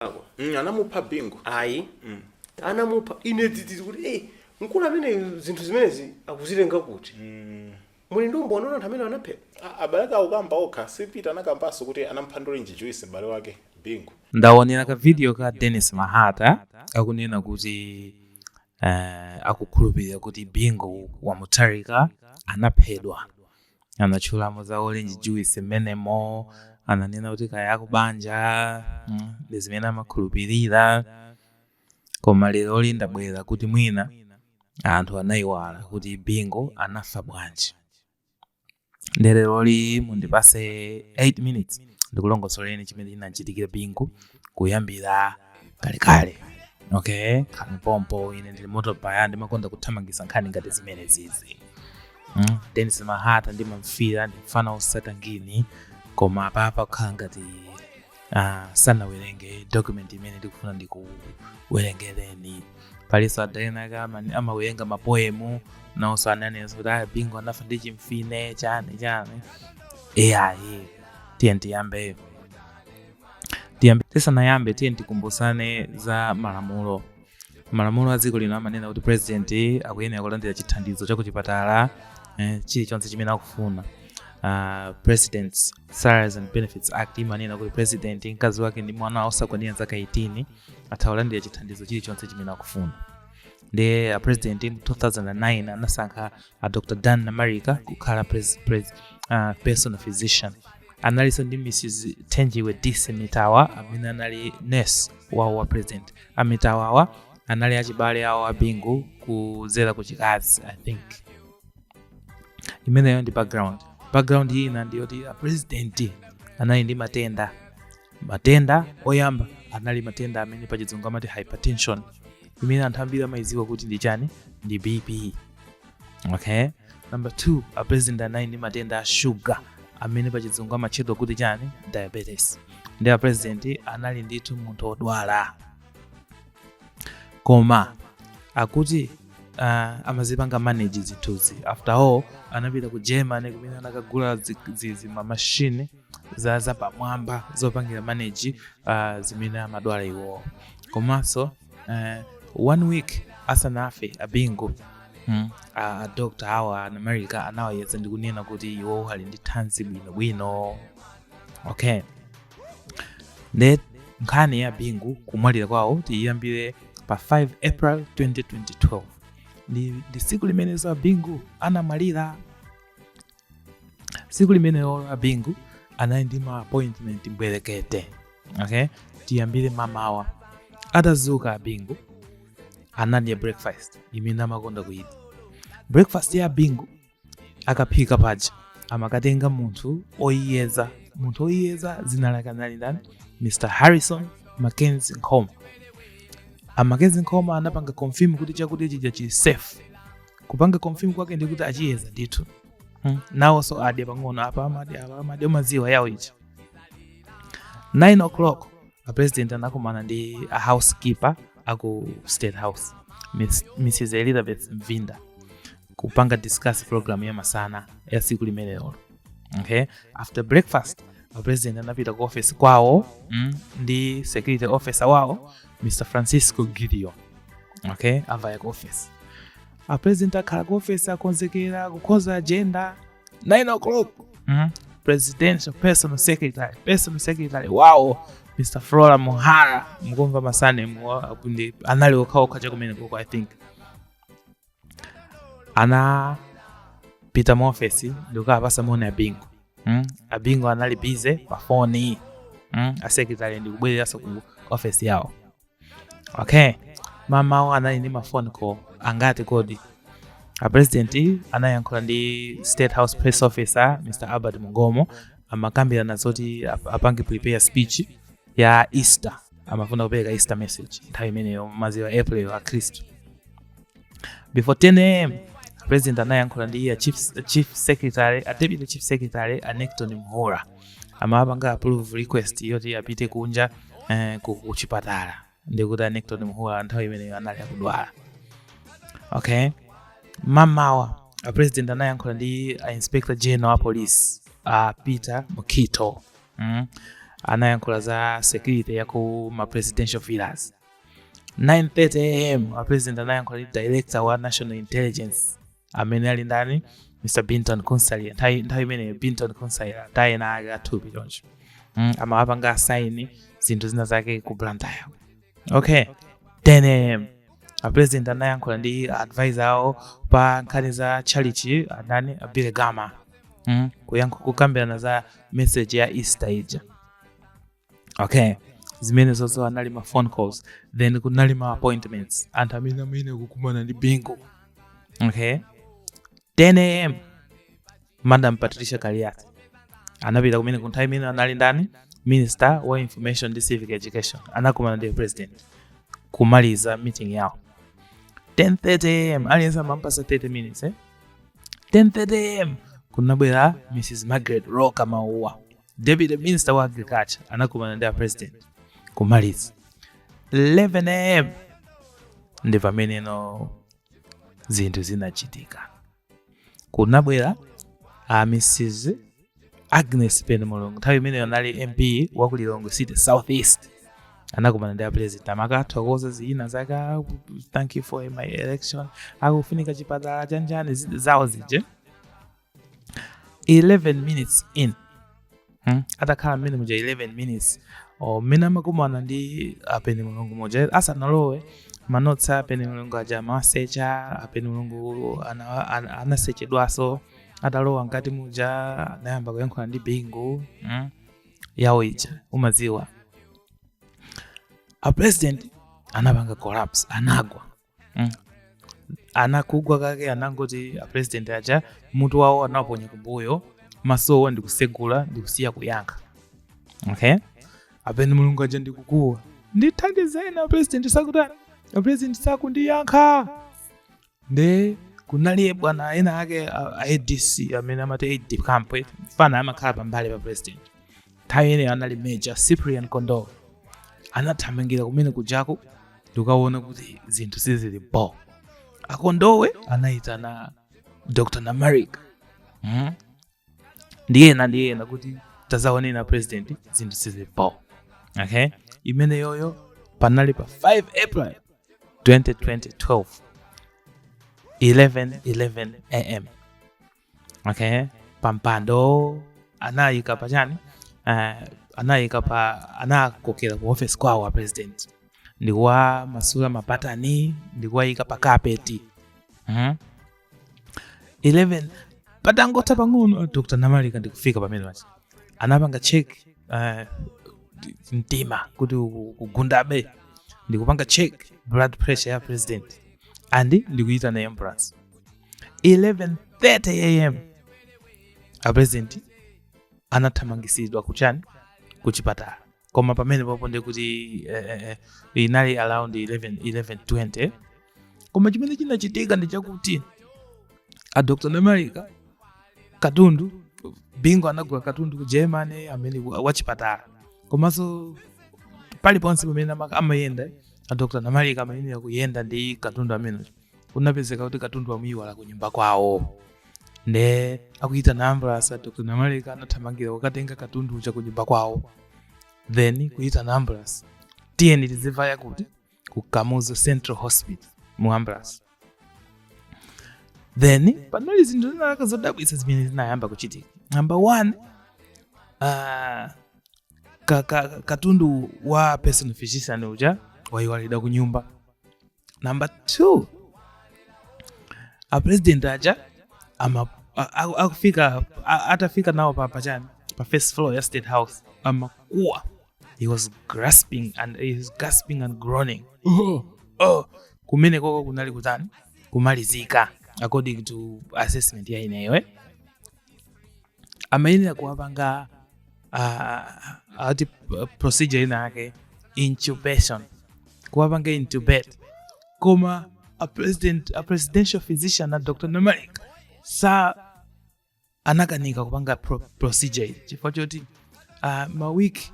anamupako Mm, anamupha bingu ayi anamupha ine dzidzidzi kuti eh, mkulu amene zinthu zimenezi akuzitenga kuti muli ndi umboni wa anthu amene anaphedwa A- abale ake akukamba okha si peter anakambanso kuti anamupha ndi orange juice m'bale wake bingu ndaonera ka video ka dennis mahata akunena kuti uh, akukhulupirira kuti bingu wa mutharika anaphedwa anatchulamo za orange juice mmenemo ananena kuti kaya akubanja mm, ndi zimene amakhulupirira koma leroli ndabwera kuti mwina anthu anayiwala kuti bingu anafa bwanji nde leroli mundipase 8 minutes ndikulongosoleni chimene chinachitikira bingu kuyambira kalekale okay khalani pompo ine ndili moto fire ndimakonda kuthamangisa nkhani ngati zimenezizi mm? denis mahata ndimamfira ndi mfana osata ngini koma apapa kukhala ngati uh, sanawerenge document imene ndikufuna ndikuwerengereni palinso ada ena ake amawerenga mapoemu naonso ananenso kuti ayi bingu anafa ndi chimfine chani chani eyayi tiyeni tiyambe tiyambe tisanayambe tiye tikumbusane za malamulo malamulo a dziko lino amanena kuti president akuyenera kulandira chithandizo cha kuchipatala eh, chilichonse chimene akufuna uh, presidents salaries and benefits act imanena kuti president mkazi wake ndi mwana osakwanira zaka 18 atha kulandira chithandizo chilichonse chimene akufuna nde a president mu 2009 anasankha a dr dan namarika kukhala pres, pres, uh, personal physician analinso ndi mrs thenjiwe dissi mitawa amene anali nurse wawo wa president a mitawawa anali achibale awo a bingu kudzera ku chikazi i think imeneyo ndi background background ina ndiyoti a president anali ndi matenda matenda oyamba anali matenda amene pa chidzungu amati hypertension imene anthu ambiri amayidziwa kuti ndi chani ndi bp okay number 2 a president anali ndi matenda a shuga amene pa chidzungu amatchedwa kuti chani diabetes nde a president anali ndithu munthu odwala koma akuti uh, amazipanga manage zinthuzi after all anapita ku germany kumene anakagula zi- zi- zimamachine za zapamwamba zopangira manage uh, zimene amadwala iwowo komanso uh, one week asanafe abingu mm, a dokotala awo a namarika anawayeza ndi kunena kuti iwowo ali ndi thanzi bwinobwino okay nde nkhani ya bingu kumwalira kwawo tiyiyambire pa 5 april 2012 ndi, ndi siku limenenso abingu anamwalira tsiku limenelo a bingu anali ndi ma appointment mbwerekete okay tiyambire mamawa atazuka a bingu anadya breakfast imene amakonda kuyidya breakfast ya a bingu akaphika paja amakatenga munthu oyiyeza munthu oyiyeza dzina lake anali ndani mr harrison mackenzie nkhoma amackenzie nkhoma anapanga confirm kuti chakudya chija chili safe kupanga confirm kwake ndi kuti achiyeza ndithu hmm. nawonso adya pang'ono apa amadi apa amadi umadziwa yawo ichi 9 o'clock a president anakumana ndi a housekeeper aku state house Miss, mrs elizabeth mvinda kupanga discuss program ya masana ya siku limenelo okay after breakfast a president anapita ku office kwawo mm, ndi security officer wawo mr francisco gideon okay avaya ku office apresident akhala ku office akonzekera kukonza agenda 9 o'clock mm? presidential personal secretary personal secretary wawo mr flora muhara mukumva ma surname anali okhaokha chakumeneko i think anapita mu ofesi ndikukaapatsa moni abingu mm? abingu anali busy pa foni mm? a secretary ndikubwereranso ku ofesi yawo okay mamawo anali ndi ma phone call angati kodi apresidenti anayankhula ndi state house press officer mr albert mungomo amakambirana zoti ap- apange prepare speech ya easter amafuna kupereka easter message nthawi imeneyo maziwa april akhristu before 10 am president anayankhula ndi a chief, chief secretary a deputy chief secretary a necton mhura amapanga approve request yoti apite kunja eh, ku, ku chipatala ndikuti a Necton Mhura nthawi imeneyo anali akudwala okay mamawa a president anayankhula ndi a inspector general wa police a peter mukhito mm? anayankhula za security ya ku ma presidential villas 9:30 am a president anayankhula ndi director wa national intelligence amene ali ndani mr binton kutsaira nthawi nthawi imeneyo binton kutsaira ena ake athupi choncho mm, amawapanga assign zinthu zina zake ku blantyre okay 10 am, apresident anayankhula ndi advisor awo pa nkhani za chalichi andani a billy gama mm, kuyankhu kukambirana za message ya easter ija okay zimene zozo anali ma phone calls then kunali ma appointments anthu amene amene kukumana ndi bingu okay 10 am madam patricia kaliati anapita kumene ku nthawi imene anali ndani minister wa information and civic education anakumana ndi president kumaliza meeting yawo 10:30 am aliyense amampasa 30 minutes eh? 10:30 am kunabwera mrs margaret roka mauwa Deputy Minister wa Agriculture anakumana ndi a president kumaliza 11 am ndi pameneno zinthu zinachitika kunabwera a Mrs Agnes Penemulungu nthawi imene anali MP wa ku Lilongwe City South East anakumana ndi a president amakathokoza zina zake "Ah, thank you for my election akufunika chipatala chanjani zi- zawo zije 11 minutes in hmm? atakhala mmene muja 11 minutes or mmene amakumana ndi a penemulungu muja asanalowe manotsi a penemulungu aja amawasecha a penemulungu ana- ana- anasechedwaso atalowa mkati muja anayamba kuyankhula ndi bingu hmm? yawo ija umaziwa a president anapanga collapse anagwa mm. anakugwa kake anangoti apresident aja mutu wawo anawuponya kumbuyo masowo ndikusegula ndikusiya kuyankha okay a penemulungu aja ndikukuwa ndithandizeni apresident sakutani apresident sakundiyankha nde kunaliye bwana ena ake a adc amene amati aide camp fana amakhala pambali pa president nthawi imeneyo anali major cyprian kondowe anathamangira kumene kujako ndikuwona kuti zinthu sizili bo akondowe anayitana dr namarika mm? ndiyena ndiyena kuti tazaoneni a president zinthu sizili bo okay imeneyoyo panali pa 5 april 2012 11 11 am okay pampando anayika pa chani uh, anayika pa anakokera ku office kwawo a president ndikuwamasula mabatani ndikuwayika pa kapeti mm-hmm. 11 patangotha pang'ono dr namarika ndikufika pamene paja anapanga check uh, mtima kuti ukugundabe ndikupanga check blood pressure ya president and ndikuyitana ambulance 11:30 am apresident anathamangisidwa kuchani kuchipatala koma pamene papo ndi kuti eh, eh, eh, inali around 11 11:20 koma chimene chinachitika ndi chakuti a dr namalika katundu Bingu anagula katundu ku germany amene wa- wachipatala komanso paliponse pamene ama- amayenda a dr Namarika amayenera kuyenda ndi katundu ameneyo kunapezeka kuti katundu amuyiwala ku nyumba kwawo nde akuyitana ambulance a dr Namarika anathamangira kukatenga katundu uja ku nyumba kwawo then kuyitana ambulance tiyeni tizivaya kuti ku kamuzu central hospital mu ambulance then panali zinthu zinalaka zodabwitsa zimene zinayamba kuchitika number one uh, ka, ka, katundu wa personal physician uja wayiwalidwa ku nyumba number two apresident aja ama a- a- akufika a- atafika nawo pa pachani pa first floor ya state house amakuwa he was grasping and he was gasping and groaning oh, oh. kumenekoko kunali kutani kumalizika according to assessment ya ineyo eh? amayenera kuwapanga uh, ati procedure ina yake intubation kuwapanga intubate koma a, president, a presidential physician a dr Namarika sa anakanika kupanga pro, procedure iyi chifukwa choti uh, mawiki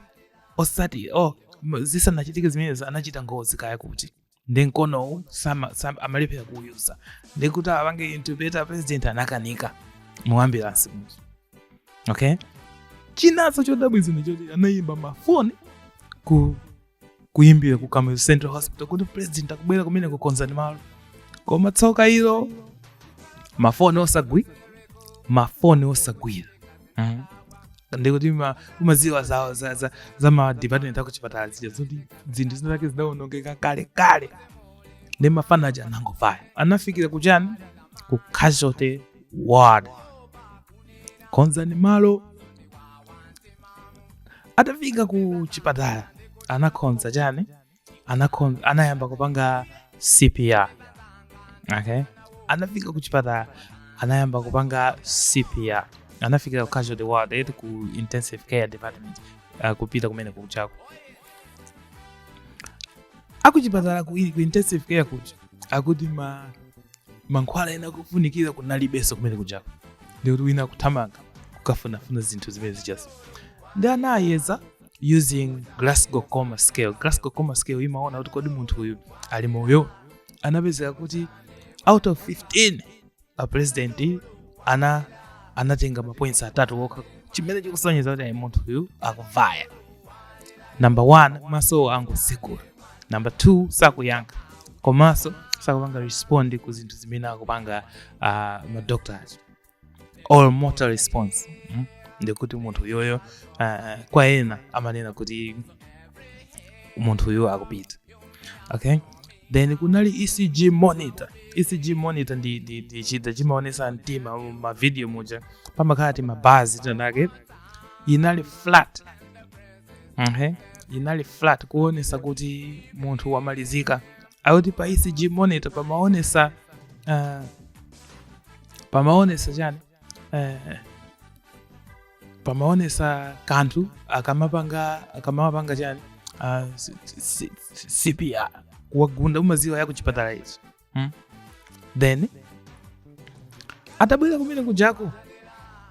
osati oh, zisanachitike zimenezi anachita ngozi kaya kuti ndi mkonowu sama- sama- amalephera kuuyuza ndi kuti apange intubate president anakanika mu ambulance muja okay chinanso chodabwitsa ndi choti anayimba mafoni ku kuyimbira ku Kamuzu central hospital kuti president akubwera kumeneko konzani malo koma tsoka ilo mafoni osagwira mafoni osagwira mm. ndikuti umaziwa za, za, za, za ma department akuchipatala zija zoti zinthu zinazake zidawonongeka kale kale ndi mafana aja anangovaya anafikira kuchani ku casualty ward konzani malo atafika ku chipatala anakonza chani anakon- anayamba kupanga cpr okay anafika kuchipatala anayamba kupanga cpr anafika ku casualty ward eti ku intensive care department uh, kupita kumene kujako akuchipatala ku, ku intensive care kuja akuti ma mankhwala ena ofunikira kunalibenso kumene kujako ndikuti wina akuthamanga kukafunafuna zinthu zimene zijazo ndi anayeza using glasgow coma scale glasgow coma scale imaona kuti kodi munthu uyu ali moyo anapezeka kuti out of 15 a president ana anatenga mapoints atatu okha chimene chikusonyeza kuti ayi munthu uyu akuvaya number one maso osatsekula number two sakuyankha komanso sakupanga respond ku zinthu zimene akupanga uh, madoctors all motor response mm? ndikuti munthu uyoyo uh, kwa ena amanena kuti munthu uyo akupita okay then kunali ecg monitor ecg monitor ndi, ndi, ndi chida chimaonesa mtima mu mavidiyo muja pamakhala timabazi tinatake inali flat okay? inali flat kuonesa kuti munthu wamalizika akuti pa ecg monitor pamaonesa uh, pamaonesa chani eh, pamaonesa kanthu akamapanga akamapanga chani ah, si- si- si- cpr kuwagunda mumaziwa ya kuchipatala izo hmm? then atabwera kumene kujako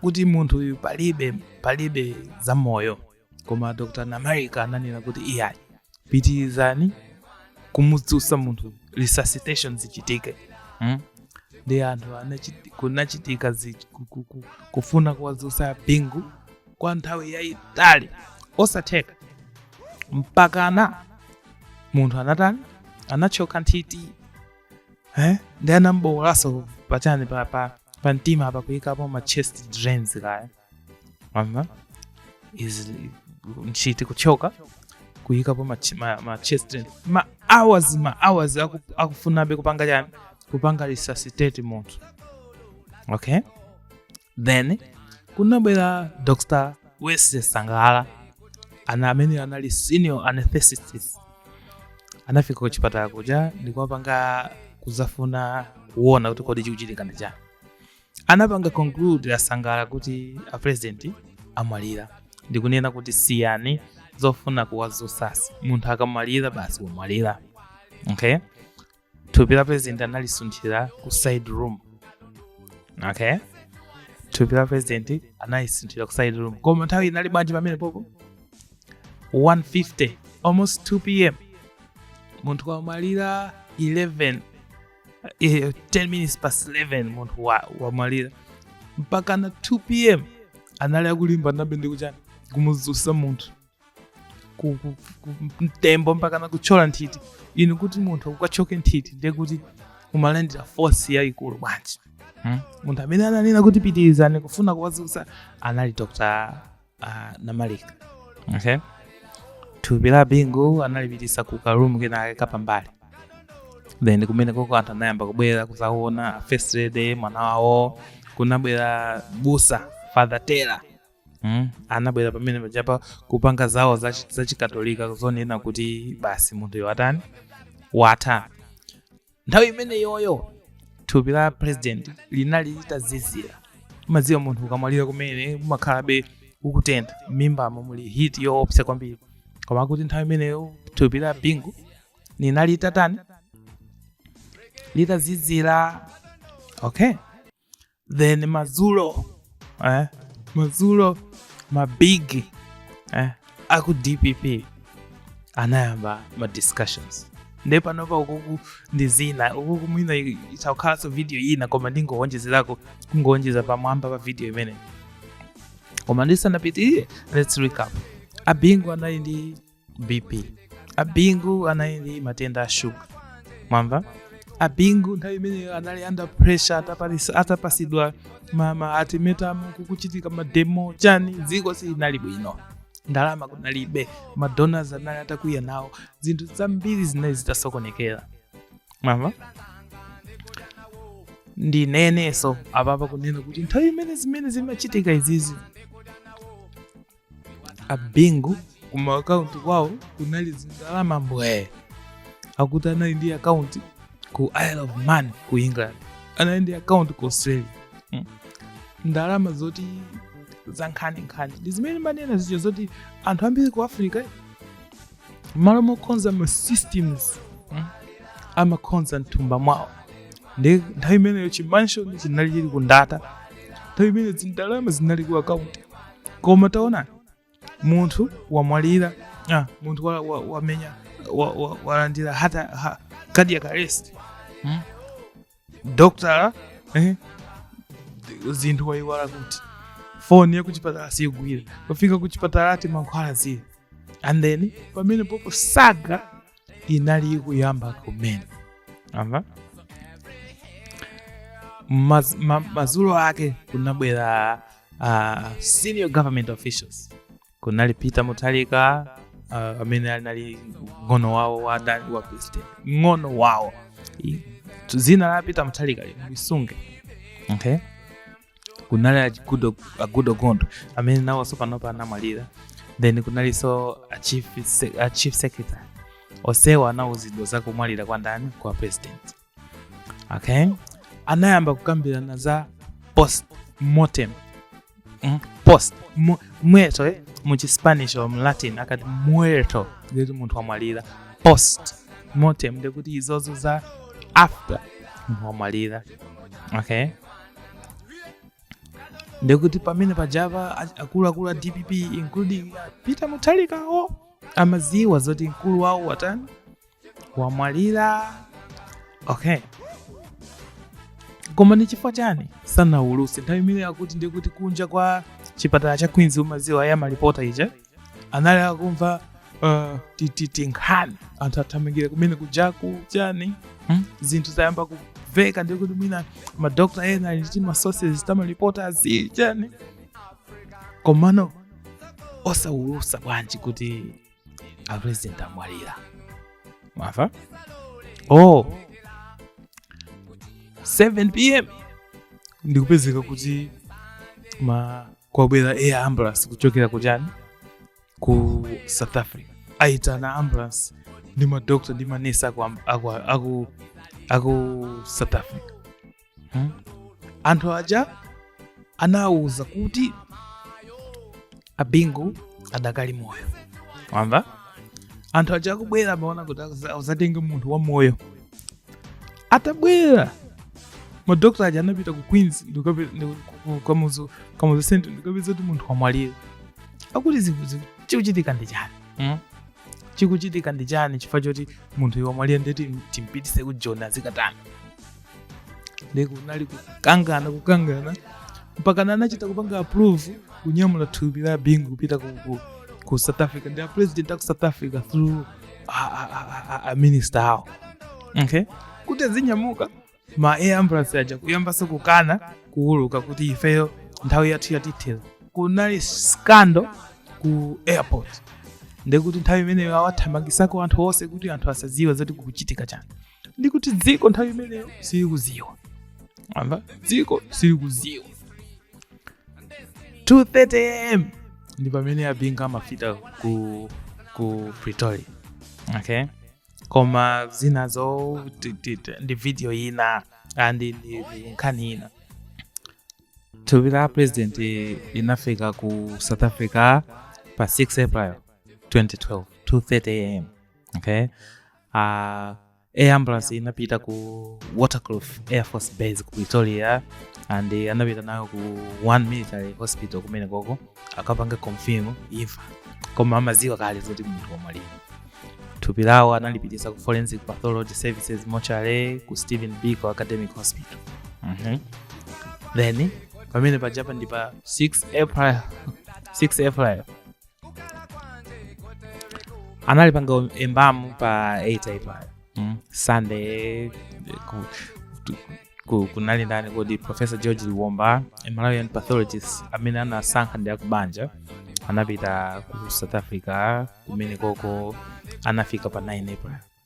kuti munthu uyu palibe palibe za moyo koma dr namarika ananena kuti iyayi pitirizani kumudzutsa munthu resuscitation zichitike mm? ndi anthu anachiti- kunachitika zi- ku- ku- ku- kufuna kuwadzutsa bingu kwa nthawi yayitali osatheka mpakana munthu anatani anatchoka nthiti eh? ndi anambowolanso pachani pa, pa, pa mtima apa kuyikapo ma chest drains kaya Aha. is nthiti kutchoka kuyikapo ma, ch- ma, ma chest drains ma hours ma hours aku, akufunabe kupanga chani kupanga resuscitate munthu okay then kunabwera dr wesley sangala ana amene anali senior anesthetist anafika ku chipatala kuja ndikuwapanga kuzafuna kuona kuti kodi chikuchitika ndi chani anapanga conclude a sangala kuti a president amwalira ndikunena kuti siyani zofuna kuwazusazusa munthu akamwalira basi wamwalira okay thupi la president analisunthira ku side room okay thupi la president analisunthira ku side room koma nthawi inali bwanji pamenepopo 150 almost 2 pm munthu wamwalira 11 eh, 10 minutes past 11 munthu wa- wamwalira mpakana 2 pm anali akulimbanabe ndikuchani kumuzusa munthu ku- ku- ku- mtembo mpakana kutchola nthiti inu kuti munthu akatchoke nthiti ndiye kuti umalandira force yayikulu bwanji Hmm? munthu amene ananena kuti pitirizani kufuna kuwazusa anali dr Ah, namarika okay. thupi la bingu analipitisa kukaroom kenake kapambali then kumene koko anthu anayamba kubwera kuzaona first lady mwana wawo kunabwera busa father taylor mm? anabwera pamene pachapel kupanga zawo za- zachikatolika kuzanena kuti basi munthuyo watani watha nthawi imene yoyo thupi la president linali litazizira mumadziwa munthu ukamwalira kumene umakhalabe ukutentha m'mimbamo muli heat yoopsa kwambiri koma akuti nthawi imeneyo thupi la bingu linali litatani litazizira okay then madzulo eh, madzulo mabig eh, aku dpp anayamba ma discussions nde panopa ukuku ndi zinanso ukuku mwina itakhalanso video ina koma ndingowonjezerako kungowonjeza pamwamba pa video imeneyi koma ndisanapitirire let's recap abingu anali ndi bp abingu anali ndi matenda a shuga mwamva abingu nthawi imeneyo anali under pressure atapatsidwa- atapatsidwa ma ma ultimatum kukuchitika mademo chani dziko silinali bwino ndalama kunalibe madonors anali atakwiya nawo zinthu zambiri zinali zitasokonekera mwamva ndinenenso apapa kunena kuti nthawi imene zimene zimachitika izizi abingu kuma akaunti kwawo kunali zindalama mbwee akuti anali ndi akaunti ku isle of man ku england anali ndi akaunti ku australia mm. ndalama zoti zankhaninkhani nde zimene timanena zija zoti anthu ambiri ku africa mmalo mokonza ma systems mm, amakonza mthumba mwawo nde nthawi imeneyo chimanshoni chinali chili ku ndata nthawi imeneyo zindalama zinali ku akaunti koma taonani munthu wamwalira ah, munthu wa- wa- wamenya wa- wa- walandira hata ha, cardiac arrest hmm? dokotala eh, zinthu wayiwala kuti foni yakuchipatala siyigwira kufika kuchipatala ati mankhwala zii and then pamene popo saga inali ikuyamba kumene mwamva Madz, ma, madzulo ake kunabwera uh, senior government officials kunali peter mutharika uh, amene anali mng'ono wawo wa, da- wa president mng'ono wawo I- dzina la peter mutharika lisunge okay kunali a Goodall a Goodall Gondwe amene nawo sopanopa anamwalira then kunalinso a chief se- a chief secretary onsewa anawuzidwa za kumwalira kwa ndani kwa president okay anayamba kukambirana za post mortem mm? post mu- muerto eh? muchispanish or mlatin akati muerto ndikuti munthu wamwalira post mortem ndikuti izozo za after munthu wamwalira okay ndekuti pamene pajapa a- akuluakulu a dpp including peter mutharikawo amaziwa zoti mkulu wawo watani wamwalira okay koma ni chifukwa chani sanawulutse nthawi imene akuti ndikuti kunja kwa chipatala cha queens umaziwa ya malipota ija anali akumva uh, ti- ti- tinkhani anthu athamangira kumene kujaku chani hmm? zinthu zayamba kumveka ndekuti mwina madokta ena ali ndi masources tamalipota azili chani komano osawulutsa bwanji kuti apresident amwalira mwamva oh 7 pm ndikupezeka kuti ma kwabwera air ambulance kuchokera kuchani ku south africa aitana ambulance ndi madokta ndi manesi aku, am- aku, aku, aku south africa hmm? anthu aja anawauza kuti abingu adakali moyo wamva anthu aja akubwera amaona kuti adza- adzatenge munthu wa moyo atabwera madokotala aja anapita ku queens ndikape- ndi- ku- ku- kamuzu kamuzu central ndikapeza kuti munthu wamwalira akuti zinthu zi- chikuchitika ndi chani mm? chikuchitika ndi chani chifukwa choti munthu iwe wamwalira ndeti timpititse ku joni azikatani nde kunali kukangana kukangana mpakana anachita kupanga approve kunyamula thupi la abingu kupita ku, ku, ku south africa ndi a president aku south africa through a- a- a- a- a- a minister awo okay kuti azinyamuka ma air ambulance aja kuyambanso kukana kuuluka kuti ifeyo nthawi yathu yatithera kunali scandal ku airport ndekuti nthawi imeneyo awathamangisako anthu onse kuti anthu asadziwe zoti kukuchitika chani ndikuti dziko nthawi imeneyo silikuziwa amva dziko silikuziwa 230 am ndi pamene abingu amafika ku, ku pretoria okay koma zinazo ti- ti- ti- ndi video ina andi ndi ndi nkhani ina thupi la president inafika ku south africa pa 6 april 2012 230 am okay uh, air ambulance inapita ku waterkloof air force base ku pretoria and eh, anapita nayo ku one military hospital kumene koko akapanga confirm imfa koma amaziwa kale zoti munthu wamwalira thupi lawo analipitisa ku forensic pathology services mortuary ku steve biko academic hospital Mhm. then pamene pajapa ndi pa 6 april 6 april analipanga um- embamu pa 8 april mm. sunday ku, tu- ku, kunali ndani kodi professor george liomba a malawian pathologist amene anasankha ndi akubanja anapita ku south africa kumene koko anafika pa 9 april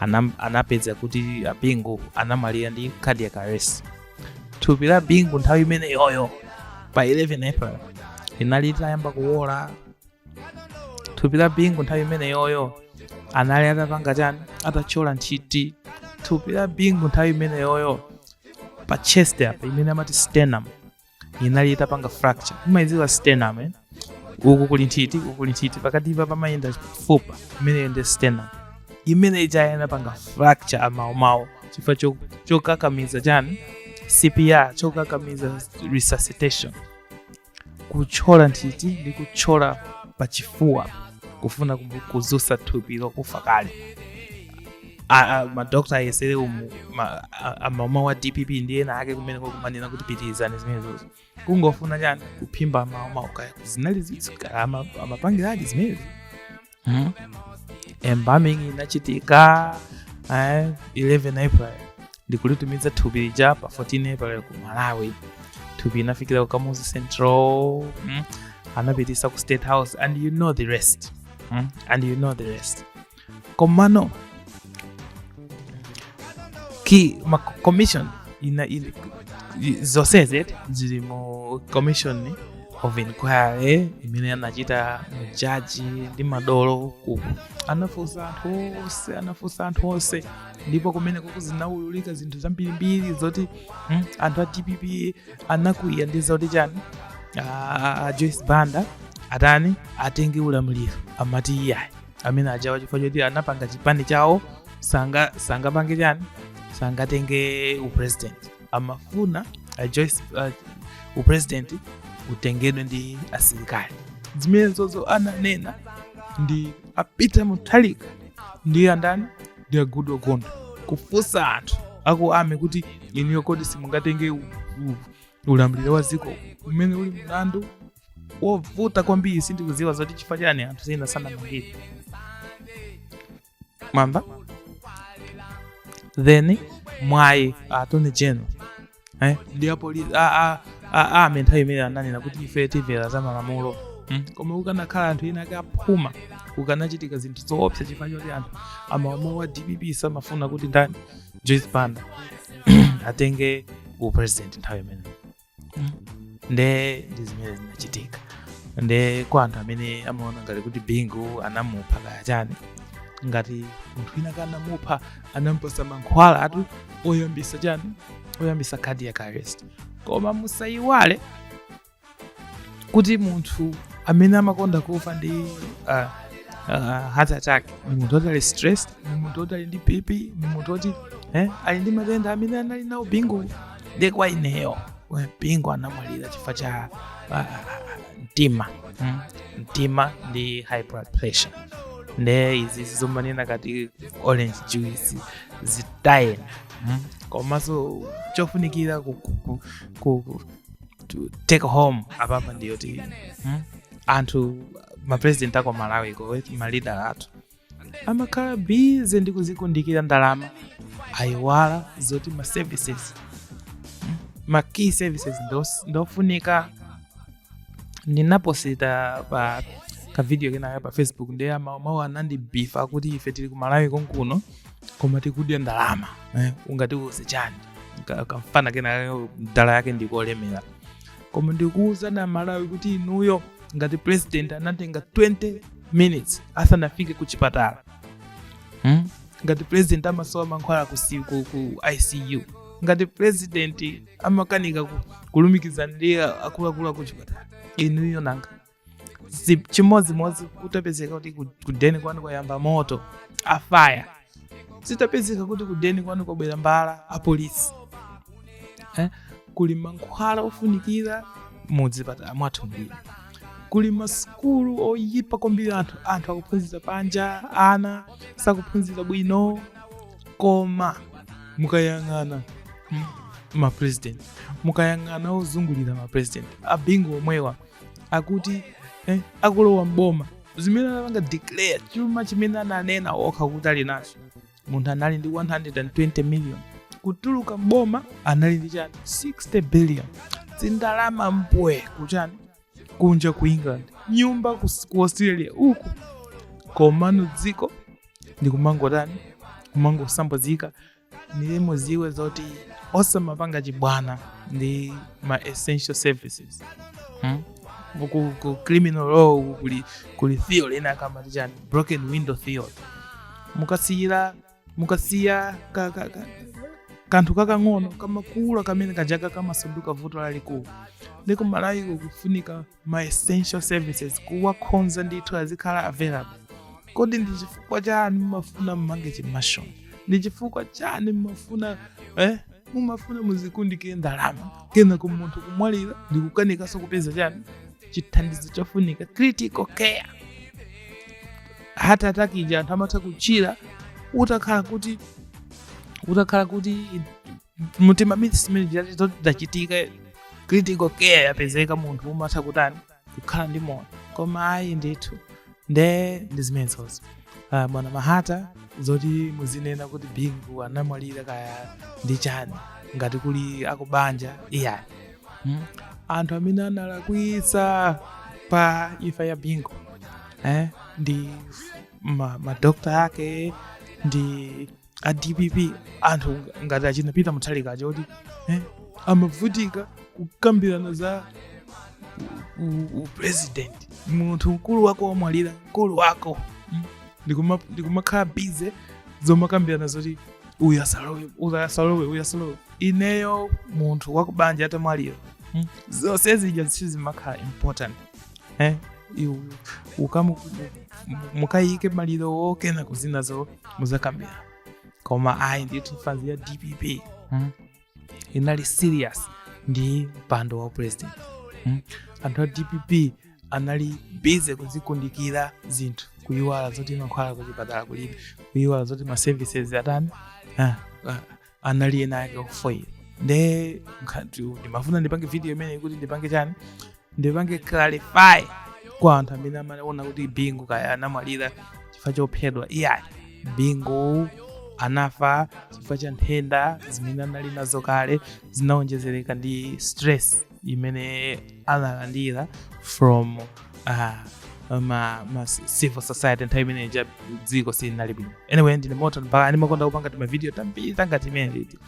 anam- anapeza kuti a bingu anamwalira ndi cardiac arrest thupi la bingu nthawi imeneyoyo pa 11 april linali litayamba kuwola thupi la bingu nthawi imeneyoyo anali atapanga chani atatchola nthiti thupi la bingu nthawi imeneyoyo pa chest apa imene amati sternum inali itapanga fracture umayidziwa sternum eh? uku kuli nthiti uku kuli nthiti pakatipa pamayenda fupa imeneyo ndi sternum imene ija inapanga fracture maumawo chifukwa cho- chokakamiza chani cpr chokakamiza resuscitation kutchola nthiti ndi kutchola pachifuwa kufuna kumu- kuzusa thupi lokufa kale a- a- madokta ayesere umu ma- a- a- mauma wa dpp ndi ena ake kumene kumanena kuti pitirizani zimenezozo kungofuna chani kuphimba mauma kaya zinali zitsika ama- amapangiradi zimenezi Hmm? embalming inachitika eh, 11 april ndikulitumiza thupi lija pa 14 april ku malawi thupi inafikira ku kamuzu central mm? anapitisa ku state house and you know the rest mm? and you know the rest komano ki ma commission ina, ina zonsezi zili mu commission of inquiry imene anachita majaji ndi madolo ku anafunsa anthu onse anafunsa anthu onse ndipo kumene kuku zinaululika zinthu zambirimbiri zoti mm, anthu a dpp anakwiya ndi zoti chani a joyce banda atani atenge ulamuliro amati iyayi amene ajawa chifukwa choti anapanga chipani chawo sanga sangapange chani sangatenge upresident amafuna a Joyce, uh, upresident utengedwe ndi asilikali zimenezozo ananena ndi a peter mutharika ndi andani ndi a goodall gondwe kufunsa anthu aku army kuti inuyo kodi simungatenge u- u- ulamuliro wa dziko umene uli mlandu wovuta kwambiri sindikudziwa zoti chifukwa chani anthu ena sanamangidwe mpaka then mwayi attorney general eh? ndi apolisi ame nthawi imene ananena kuti ife timvera za malamulo mm? koma kukanakhala anthu ena ake aphuma kukanachitika zinthu zoopsa chifukwa choti anthu amalamulo wa dpp samafuna kuti ndani joyce banda atenge upresident nthawi imeneyo nde ndi zimene zinachitika nde kwa anthu amene amaona ngati kuti bingu anamupha kaya chani ngati munthu wina akanamupha anampatsa mankhwala atu oyambisa chani oyambisa cardiac arrest koma musayiwale kuti munthu amene amakonda kufa ndi uh, uh, heart attack ni munthu oti ali stressed ni munthu oti ali ndi bp ni munthu oti eh, ali ndi matenda amene anali nawo bingu ndiye kwa ineyo Bingu anamwalira chifukwa cha ah, ah, ah, mtima mm, mtima ndi high blood pressure nde izi zomanena kuti orange juice zitayeni mm, komanso chofunikira ku, ku, ku, ku, ku to take home apapa ndiyoti mm, anthu mapresident aku Malawiko malida athu amakhala bize ndi kuzikundikira ndalama ayiwala zoti ma services mm, ma key services ndos- ndofunika ndinaposita kavidiyo kenakake pa facebook ndiye ama- amagawo anandibifa kuti ife tili ku malawi konkuno koma tikudya ndalama eh, ungatiuze chani Ka- kamfana kenakake mdala yake ngolemera koma ndikuwuzani amalawi kuti inuyo ngati president anatenga 20 minutes asanafike ku chipatala hmm? ngati president amasowa mankhwala ku, si- ku, ku icu ngati president amakanika ku- kulumikizana ndi akuluakulu aku chipatala inuyo nanga si chimodzimodzi kutapezeka kuti ku- kudeni kwanu kwayamba moto afaya zitapezeka kuti kudeni kwanu kwabwera mbala apolisi eh? kuli mankhwala ofunikira mudzipatala mwathu zambiri kuli masukulu oyipa kwambiri anthu anthu akuphunzira panja ana sakuphunzira bwino koma mukayang'ana m- mapresident mukayang'ana ozungulira mapresident abingu omwewa akuti eh, akulowa mboma zimene anapanga declare chuma chimene ananena okha kuti ali nacho munthu anali ndi 120 million kutuluka mboma anali ndi chani 60 billion zindalama mbwe kuchani kunja ku england nyumba ku, ku australia uku komano dziko ndi kumangotani kumangosambwadzika ndiye muziwe zoti osamapanga chibwana ndi ma essential services hmm? ku, ku criminal law kuli, kuli theory ina yake amati chani broken window theory mukasiyira mukasiya ka, ka, ka, kanthu kakang'ono kamakula kamene kajaka kamasanduka vuto lalikulu ndi ku malawi ko kufunika ma essential services kuwakhonza ndithu azikhala available kodi ndi chifukwa chani mumafuna mumange chimansion ndi chifukwa chani mumafuna eh? mumafuna muzikundikire ndalama kenako munthu kumwalira ndi kukanikanso kupeza chani chithandizo chofunika critical care heart attack ija anthu amatha kuchira utakhala kuti utakhala kuti mtima minutes imene zachitika critical care yapezeka munthu amatha kutani kukhala ndi moyo koma ayi ndithu nde ndi zimenezozo uh, bwana mahata zoti muzinena kuti bingu anamwalira kaya ndi chani ngati kuli akubanja iyayi hmm? anthu amene analakwitsa pa imfa ya bingu eh? ndi madokta ma ake ndi a dpp anthu ngati achina peter mutharika aja kuti eh, amavutika kukambirana za u- u- upresident munthu mkulu wako wamwalira mkulu wako mm, ndikuma- ndikumakhala bize zomakambirana zoti uyu asalowe uyu asalowe uyu asalowe ineyo munthu wakubanja atamwalira mm, zonse zija sizimakhala important eh, iwe ukamu mukayike malirowo kenako zinazo muzakambira koma ayi ndithu fanzi ya dpp mm, inali serious ndi mpando wa upresident mm. anthu a dpp anali busy kuzikundikira zinthu kuyiwala zoti mankhwala kuchipatala kulibe kuyiwala zoti ma services atani ah, ah, anali ena ake ofooyira nde nkhati ndimafuna ndipange video imeneyi kuti ndipange chani ndipange clarify kwa anthu amene amaona kuti bingu kaya anamwalira chifukwa chophedwa iyayi bingu anafa chifukwa cha nthenda zimene anali nazo kale zinaonjezereka ndi stress imene analandira from uh, ma, ma civil society nthawi imene ja dziko silinali bwino anyway ndine moton mpaka ndimakonda kupanga timavidiyo tambiri tangati timeneti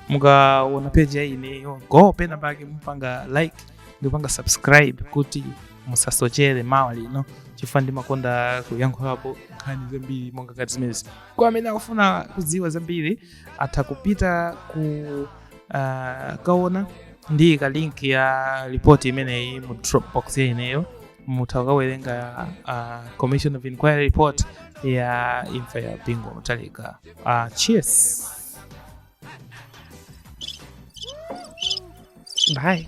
mukaona peji ya ineyo go pena pake mupange like ndikupanga subscribe kuti musasochere mawa lino chifukwa ndimakonda kuyankhulapo nkhani zambiri monga ngati zimenezi kwa amene akufuna kudziwa zambiri atha kupita ku Ah, kaya ndiika link ya report imeneyi mu dropbox ya ineyo mutha kukawerenga ah, commission of inquiry report ya imfa ya Bingu Mutharika Ah, cheers bye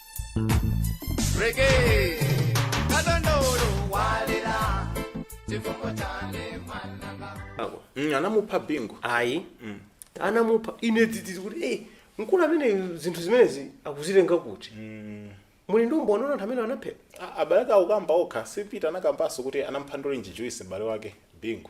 Reggae. Kadondolo walera. Chifungo chane mwananga. Ako. Mm, anamupha Bingu ayi anamupha ine dzidzi kuti eh mkulu amene zinthu zimenezi akuzitenga kuti muli ndi umboni anaona anthu amene anaphedwa A- abale ake akukamba okha si Peter anakambanso kuti anamupha ndi orange juice m'bale wake Bingu